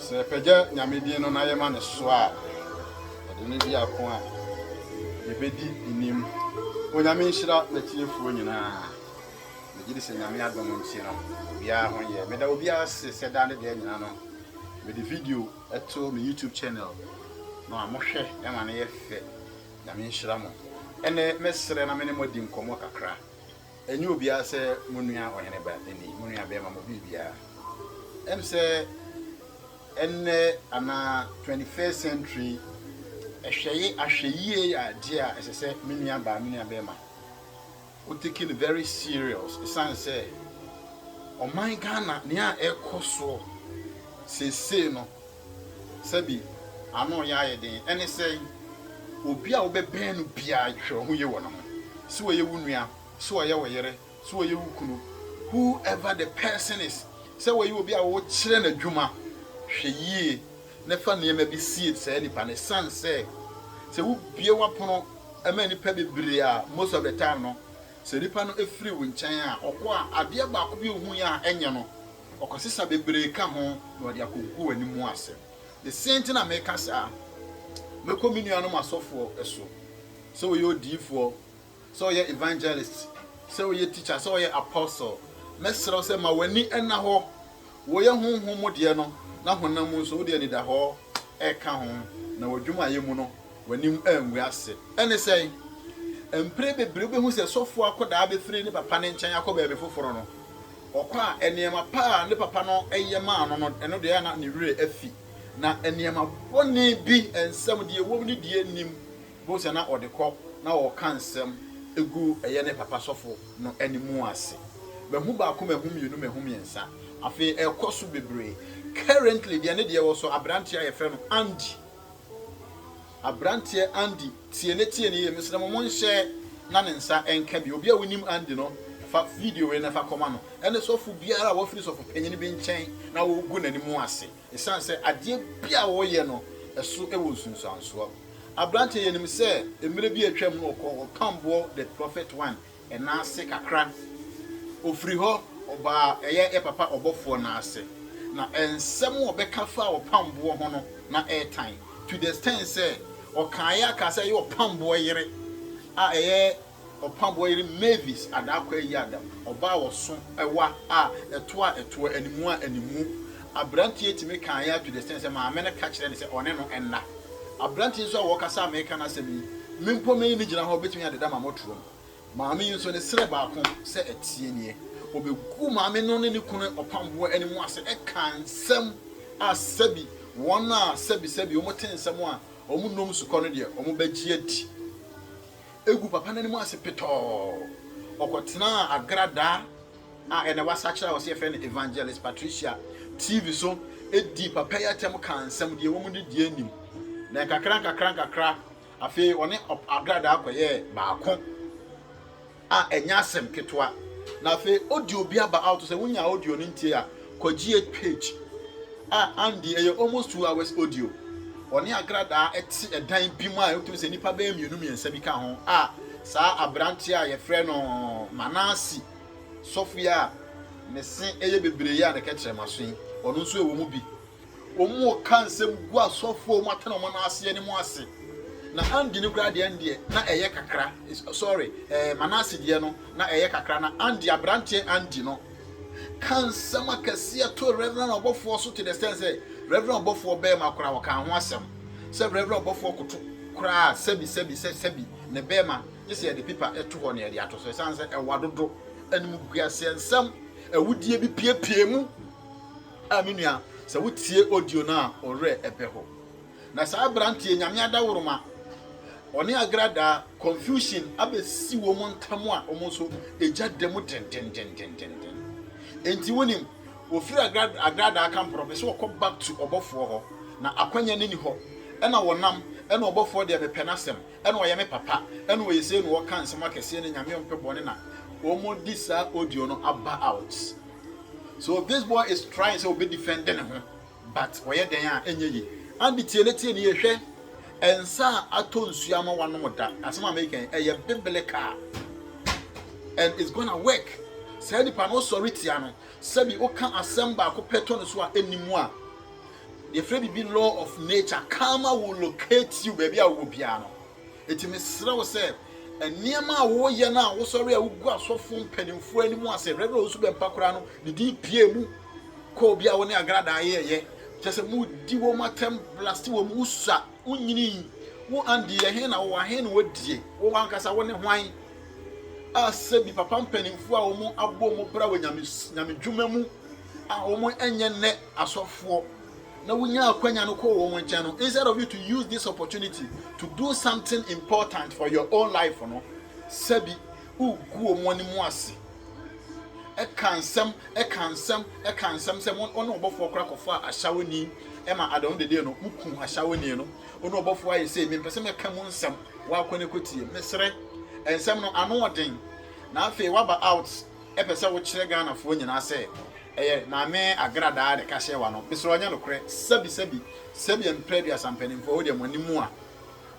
Sɛ yɛpɛgya Nyame din no na yɛma no so a, ɛde no di ako a yɛbɛdi nim. Onyame nhyira m'atiefoɔ nyinaa. Megye di sɛ Nyame adom nti no, obiara ho yɛ. Meda obiara ase sɛ daa ne da nyina no, mede video to me YouTube channel no a mohwɛ ma no yɛ fɛ. Nyame nhyira mo. Ɛnɛ mɛsrɛ na me ne mo adi nkɔmmɔ kakra. Enye obiara sɛ mo nua ɔhene ba ni, mo nua bɛɛma mo biribiara. Em sɛ ɛnnɛ anaa twenty first century ɛhwɛye ahwɛyie yɛ adeɛ a ɛsɛ sɛ me nua baa me nua bɛɛma wo take no very serious esan sɛ ɔman Ghana nea ɛkɔ soɔ seesei no. Sɛbi, ano reyɛ ayɛ den. Ɛne sɛn? Obi a wobɛbɛn no biara, hwɛ ɔho yie wɔ ne ho. Sɛ ɔyɛ wo nua, sɛ ɔyɛ wo yere, sɛ ɔyɛ wo kunu, whoever the person is, sɛ ɔyɛ obi a wokyerɛ no adwuma, hwɛ yie na fa nneɛma bi sie saa nipa no. Ɛsiane sɛ, sɛ wobue w'apono ma nnipa bebree a, most of the time no, sɛ nipa no firi wo nkyɛn a, ɔkɔ a, adeɛ baako bi a ɔhuiɛ a ɛnyɛ no. Ɔkɔsesa bebree ka ho na ɔde akɔgu w'ani mu asɛm. Ne se nti na meka saa. Mɛkɔ me nuanom asɔfoɔ so, sɛ ɔyɛ odiyifoɔ, sɛ ɔyɛ evangelist, sɛ ɔyɛ teacher, sɛ ɔyɛ apostle, mɛsrɛ wo sɛ ma w'ani nna hɔ. Woyɛ honhom mu deɛ no, na honam mu nso, wode anidahɔ reka ho, na w'adwumayɛ mu no, w'anim angu ase. Ɛne sɛn? Mpre bebree wobɛhu sɛ sɔfoɔ akɔdaa bɛfiri ne papa no nkyɛn akɔ baabi foforɔ no, Ɔkɔ a, nneɛma pa a ne papa no yɛ maa no no, ɛno deɛ ɛyɛ a na ne werɛ afi, na nneɛma bɔne bi nsam, deɛ ɛwom ne deɛ ɛnnim, wobɛhu sɛ na ɔde kɔ na ɔreka nsɛm gu ɛyɛ ne papa sɔfo no anim ase. Mahu baako, mahu mmienu, mahu mmiɛnsa, afei ɛrekɔ so bebree. Currently deɛ ne deɛ wɔ so, aberanteɛ a wɔfrɛ no Andy. Abranteɛ Andy tie ne tie ne yie mesrɛ mo mo nhyɛ na ne nsa nka bi obi a wonim Andy no fa video wei na fa kɔma no ɛne sɔfo biara a wafiri sɔfo panyin bi nkyɛn na wogu n'anim ase ɛsiane sɛ adeɛ bi a wɔyɛ no ɛso wɔ nsunsuansoɔ abranteɛ yɛnim sɛ mmerɛ bi atwam no ɔkɔ ɔpamboɔ the prophet one Ɛna ase kakra, ɔfiri hɔ ɔbaa ɛyɛ yɛ papa ɔbɔfoɔ no ase, na nsɛm a ɔbɛka faa ɔpamboɔ ho no, na ɛretan, to the extent sɛ ɔkaeɛ ara kaa sɛ ɛyɛ ɔpamboɔ yere a ɛyɛ ɔpamboɔ yere Mavis Adaa Kwayi Adam, ɔbaa ɔso wa a ɛtoa ɛtoɔ, animu a animu Aberante yi tumi kaa yɛn to the extent sɛ maame no ka kyerɛɛ no sɛ ɔne no nna. Aberante yi nso a wɔkasa a mereka n'asɛm yi, me mpo meyi no gyina hɔ a obetumi adeda ma mo torom. Maame yi nso, ne srɛ baako sɛ ɛteɛ nie, obeguu maame no ne ne kunu ɔpamboɔ anim ase kaa nsɛm a sɛbi wɔn a sɛbi sɛbi wɔte nsɛm a wɔnnom sukɔ no deɛ wɔbɛgye adi. Eguu papa no anim ase petɔɔ, ɔkɔtenaa agradaa. a ɛnnɛ wɔasakyera a wɔse yɛfrɛ no Evangelist Patricia TV so dii papa yi atɛm kaa nsɛm, deɛ wɔn de deɛ nim. Na nkakra nkakra nkakra, afei ɔne Agradaa kɔyɛɛ baako a ɛnyɛ asɛm ketewa. Na afei audio bi aba out sɛ wonya audio no ntie a, kɔgye page a Andy ɛyɛ almost two hours audio. Ɔne Agradaa ɛte ɛdan bi mu a ɛwotumi sɛ nnipa bɛyɛ mmienu mmiɛnsa bi ka ho a saa aberanteɛ a yɛfrɛ no Manasi Sɔfo yi a ne se yɛ bebree yi a ne kɛtrɛma so yi, ɔno nso wɔ mu bi. Wɔka nsɛm gu asɔfo a wɔatena wɔn nan ase anim ase. Na Andy no koraa deɛ ɛn deɛ na ɛyɛ kakra. Sorry, eh, Manase deɛ no na ɛyɛ kakra na Andy aberanteɛ Andy no ka nsɛm akɛseɛ to Reverend ɔbɔfoɔ so to the extent sɛ Reverend ɔbɔfoɔ bɛrima koraa ɔka ho asɛm sɛ Reverend ɔbɔfoɔ koto koraa sɛbi sɛbi sɛ sɛbi ne bɛrima gye sɛ yɛde pipa to hɔ na yɛde ato so ɛsiane sɛ ɛwa dodo. Animguaseɛ nsɛm awudie bi piepie mu. A me nua, sɛ wotie audio no a, wo werɛ ɛbɛ hɔ. Na saa aberanteɛ nyame adaworoma, ɔne agradaa confusion abɛsi wɔn ntam a wɔn nso ɛgya da mu dendendendendenden. Enti wonim, wɔfiri agradaa, agradaa kamporɔ pɛ sɛ wɔkɔ back to ɔbɔfoɔ hɔ, na akwanya no ni hɔ. Ɛna wɔnam, ɛna ɔbɔfoɔ deɛ mepɛ n'asɛm, Ɛna ɔyɛ me papa ɛna ɔyɛ sei na ɔka nsɛm akɛseɛ no nyame ɔmpɛ bɔne na ɔmɔ di saa audio no aba out so this boy is trying sɛ ɔbɛ defend ne ho but ɔyɛ dɛn a ɛnyɛ yi ade tie ne tie ne yɛ hwɛ ɛnsa a atɔ nsuo ama wanom da asɛm a meka yi ɛyɛ biblical and it's gonna work saa nipa no ɔsɔre tia no sɛbi ɔka asɛm baako pɛ tɔ no so a ɛni mu a Yɛfrɛ biribi law of nature, karma will locate you baabi a wowɔ biara no. Enti mesrɛ wo sɛ nneɛma a woyɛ no a wosɔre a wogu asɔfo mpanimfoɔ anim ase, Rev. Owusu Bɛmpa koraa no, ne din pie mu kɔɔ bi a wo ne Agradaa yɛɛyɛ, kyerɛ sɛ modi wɔn atɛm, blast wɔn, wosua, wonyini, wo Andy yɛ he na wowɔ he na wɔdie, wo wankasa wo ne hwan a sɛbi papa mpanimfoɔ a wɔn abɔ wɔn bra wɔ nyame, nyame dwuma mu, a wɔn ɛnyɛ nnɛ asɔfoɔ na wonya akwanya no kɔɔ wɔn nkyɛn no instead of you to use this opportunity to do something important for your own life no sɛbi wogu wɔn anim ase ɛka nsɛm ɛka nsɛm ɛka nsɛm sɛ mo ɔne ɔbɔfoɔ kora kɔfa ahyawoni ɛma adɔn dede no mo ku ahyawoni no ɔne ɔbɔfoɔ ayɛ sɛ mempɛ sɛ mɛka mu nsɛm wakɔ ne kɔtie mesrɛ nsɛm no ano ɔden na afei waba out Epɛ sɛ wokyerɛ Ghana foɔ nyinaa sɛ ɛyɛ Maame Agradaa ne Kaseɛwa no, mesrɛ ɔnyɛ nokorɛ, sɛbi sɛbi, sɛbi mprɛ aduasa mpaninfoɔ wodeɛ mo ani mua,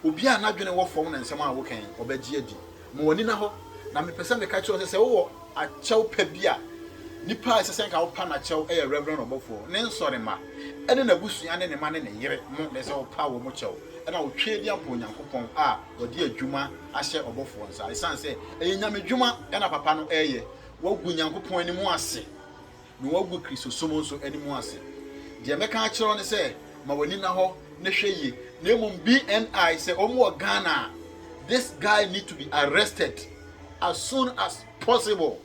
obiara a n'adwene wɔ fɔm na nsɛm a woka yi ɔbɛgye adi, ma w'ani na hɔ, na mepɛ sɛ meka kyerɛ wo sɛ sɛ wowɔ akyɛw pa bi a, nipa a ɛsɛ sɛ nka wopa n'akyɛw ɛyɛ Reverend Ɔbɔfoɔ, ne nsɔrema, ɛne n'abusua ne ne ma ne ne yere mo na ɛsɛ sɛ wopa wɔn kyɛw ɛna wotwe di ampa Onyankopɔn a wɔde adwuma ahyɛ ɔbɔfoɔ nsa, ɛsiane sɛ ɛyɛ nyamedwuma na papa no reyɛ, wagu Nyankopɔn anim ase, na wagu Kristosom nso anim ase. Deɛ mɛka akyerɛ wo ne sɛ, ma w'ani nna hɔ na hwɛ yie, na mmom BNI sɛ wɔn wɔ Ghana a, this guy need to be arrested as soon as possible.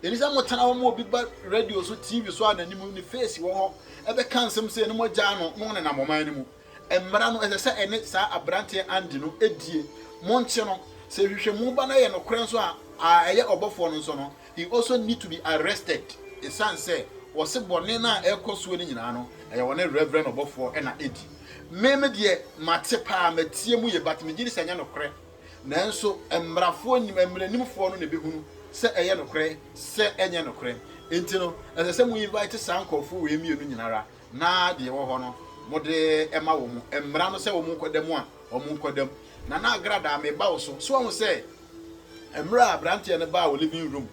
Ɛni sɛ motena hɔ ma obi ba radio so, TV so a n'anim, ne face wɔ hɔ, ɛbɛka nsɛm sɛ na moagyaa no na ɔnenam ɔman no mu. Mmara no, ɛsɛ sɛ ɛne saa aberanteɛ Andy no die. Monkye no. Sɛ nhwehwɛmu ba na ɛyɛ nokorɛ nso a, a ɛyɛ ɔbɔfoɔ no nso no, he also need to be arrested ɛsiane sɛ wɔse bɔne no a ɛrekɔ soɔ no nyinaa no, ɛyɛ wɔne Reverend ɔbɔfoɔ na ɛdi. Me me deɛ mate paa, matie mu yie but megye di sɛ ɛnyɛ nokorɛ. Nanso mmarafoɔ nim, mmaranimfoɔ no na ɛbɛhunu sɛ ɛyɛ nokorɛ, sɛ ɛnyɛ nokorɛ. Enti no, ɛsɛ sɛ mo invite saa nkorɔfoɔ wei mmienu nyinara Na deɛ ɛwɔ hɔ no, mode ma wɔn, mmara no sɛ wɔnkɔda mu a, wɔnkɔda mu. Na na Agradaa, meba wo so. So woahu sɛ mmerɛ a aberanteɛ no baa wo living room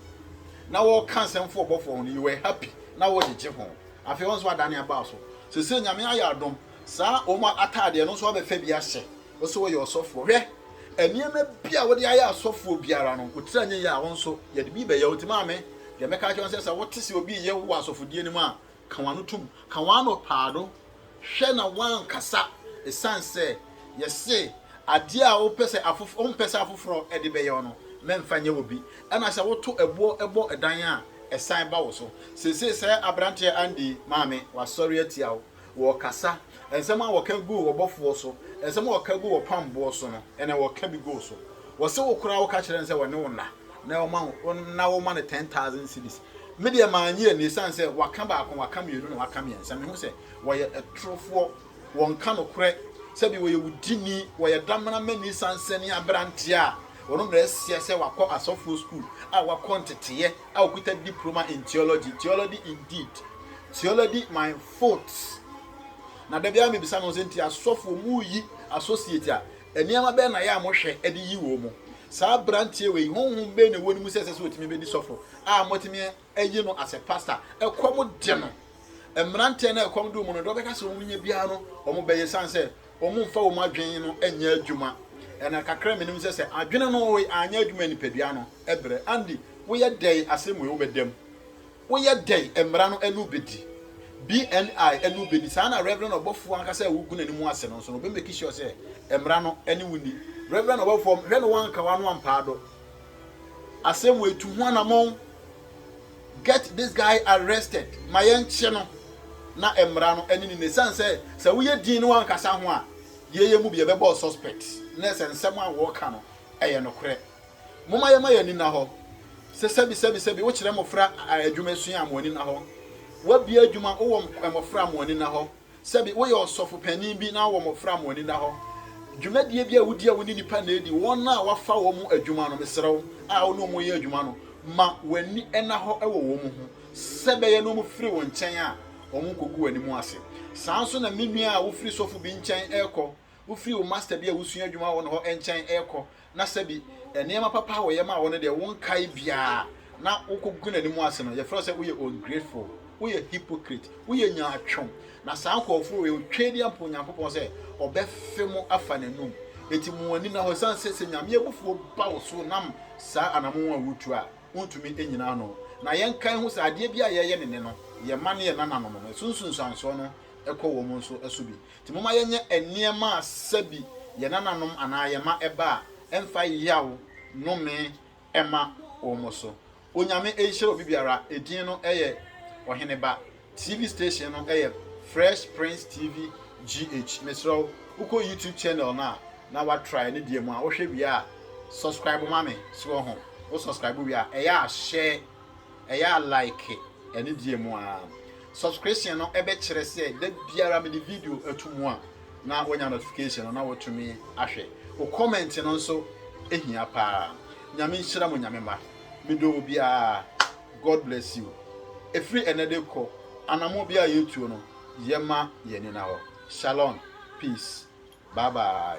na wɔreka nsɛm fa ɔbɔfoɔ ho no, you were happy, na wogyegye ho. Afei wo nso woadane aba wo so. Seesei Nyame ayɛ adom, saa wɔn ataadeɛ no nso woabɛfa bi ahyɛ, wo sɛ woyɛ ɔsɔfoɔ. Hwɛ, nneɛma bi a wode ayɛ asɔfoɔ biara no, wo tiri anyɛ yie a, wo nso yɛde bi rebɛyɛ wo. Enti maame, deɛ mɛka akyerɛ wo ne sɛ, sɛ wote sɛ obi reyɛ wo wɔ asɔfodie no mu a, Ka w'ano tom, ka w'ano paa do, hwɛ na wɔannkasa esiane sɛ yɛse adeɛ a wopɛ sɛ afof wompɛ sɛ afoforɔ de bɛyɛ wo no, mɛmfa nyɛ obi. Ɛna sɛ woto ɛboɔ bɔ dan a, ɛsan ba wo so. Seesei sɛ aberanteɛ Andy maame, wasɔre atia wo, wɔrekasa, nsɛm a wɔka guu w'ɔbɔfoɔ so, nsɛm a wɔka guu w'ɔpamboɔ so no, ɛnɛ wɔreka bi gu wo so. Wɔse wo koraa woka kyerɛ no sɛ ɔne wo nna, na wɔma no wɔn na wɔma no ten thousand cedis me deɛ maa nye ɛnu esan sɛ waka baako waka mmienu na waka mmiɛnsa mehu sɛ wɔyɛ ɛtorofoɔ wɔn ka no korɛ sɛbi wɔyɛ wudini wɔyɛ damena mani sansɛ ne aberanteɛ a wɔn mmerɛ ɛsia sɛ wakɔ asɔfoɔ school a wakɔ nteteɛ a okuta diploma in theology theology indeed theology my foot na dabi a mebisa no sɛ nti asɔfoɔ mu yi associate a Nneɛma bɛn na yɛ a mohwɛ de yi wɔn? Saa aberanteɛ wei, honhom bɛn na ɛwɔ ne mu sɛ ɛsɛ sɛ ɔtumi bɛdi sɔfo a motumi ayi no asɛ pasta? Ɛkɔm de no. Mmeranteɛ no a ɛkɔm de wɔn no, deɛ wɔbɛka sɛ wɔnya biara no, wɔbɛyɛ ɛsiane sɛ wɔmfa wɔn adwene no nyɛ adwuma. Ɛna kakra a menim sɛ sɛ adwene no anyɛ adwuma a nipadua no brɛ. Andy, woyɛ dɛn asɛm wei wobɛda mu? Woyɛ dɛn mmara no anu bedi? BNI anu bedi. Saa na Reverend ɔbɔfoɔ ankasa a wogu n'anim ase no nso no, ɔbɛ make sure sɛ mmara no ɛne wo nni. Reverend ɔbɔfoɔ, hwɛ na woanka w'ano ampaa do. Asɛm wei, tu ho anamɔn. Get this guy arrested. Ma yɛnkye no na mmara no ɛne no nni. Ɛsiane sɛ, sɛ woyɛ dinn na woankasa ho a, yɛn yɛn mu bi yɛbɛbɔ wo suspect, na ɛsɛ nsɛm a wɔreka no ɛyɛ nokorɛ. Momma yɛmma yɛn ani nna hɔ sɛ sɛbisɛbisɛbi wokyerɛ mmofra adwumasua a mo ani nna hɔ. Woabue adwuma, wowɔ mmofra a mo ani nna hɔ. Sɛbi woyɛ ɔsɔfo panyin bi na wowɔ mmofra a mo ani nna hɔ. Dwumadie bi a wodi a wo ne nnipa na adi, wɔn a woafa wɔn mu adwuma no, mesrɛ wo, a wo ne wɔn yɛ adwuma no, ma w'ani nna hɔ wɔ wɔn ho. Sɛ ɛbɛyɛ na wɔfiri wo nkyɛn a, wɔnkɔgu w'anim ase. Saa nso na me nua a wofiri sɔfo bi nkyɛn rekɔ, wofiri wo masta bi a wosua adwuma wɔ ne hɔ nkyɛn rekɔ, na sɛbi nneɛma papa a wɔyɛ maa wo no deɛ wonkae biara na wokɔgu n'anim ase no, yɛfrɛ wo sɛ woyɛ ungrateful, woyɛ hypocrite, woyɛ nyaatwom. Na saa nkurɔfoɔ wei, ɔtwa di ampa Onyankopɔn sɛ ɔbɛfe mo afa n'anum. Enti mo ani nna hɔ, ɛsiane sɛ sɛ Nyame abufuo ba wo so nam saa anamon a wotu a, wontumi nnyina ano. Na yɛnkae ho sɛ adeɛ biara a yɛyɛ ne nnɛ no, yɛma ne yɛn nananom no, ɛso nsunsuansoɔ no kɔ wɔn nso so bi. Enti momma yɛnyɛ nneɛma a sɛ bi yɛn nananom anaa yɛn mma ɛba a, ɛmfa yaw, nnome, mma wɔn so. Onyame nhyira obi biara, edin no yɛ Ɔhene Ba. TV station no yɛ Fresh Prince TV GH. Mesrɛ wo, wokɔ YouTube channel no a, na woatry ne deɛ mu a, wohwɛ wie a, subscribe ma me. So wɔ ho? Wo subscribe wie a, ɛyɛ a share. Ɛyɛ a like anigyeɛ mu aa. Subscription no ɛbɛ kyerɛ sɛ da biara mede video to mu a na wonya notification no na wotumi ahwɛ. Wo comment no nso ehia paa. Nyame nhyira mo Nyame mma. Medɔ obiara. God bless you. Ɛfiri ɛnɛ de kɔ, anamɔ biara yɛtuo no yɛma yɛn ani na hɔ. Shalom. Peace. Bye bye.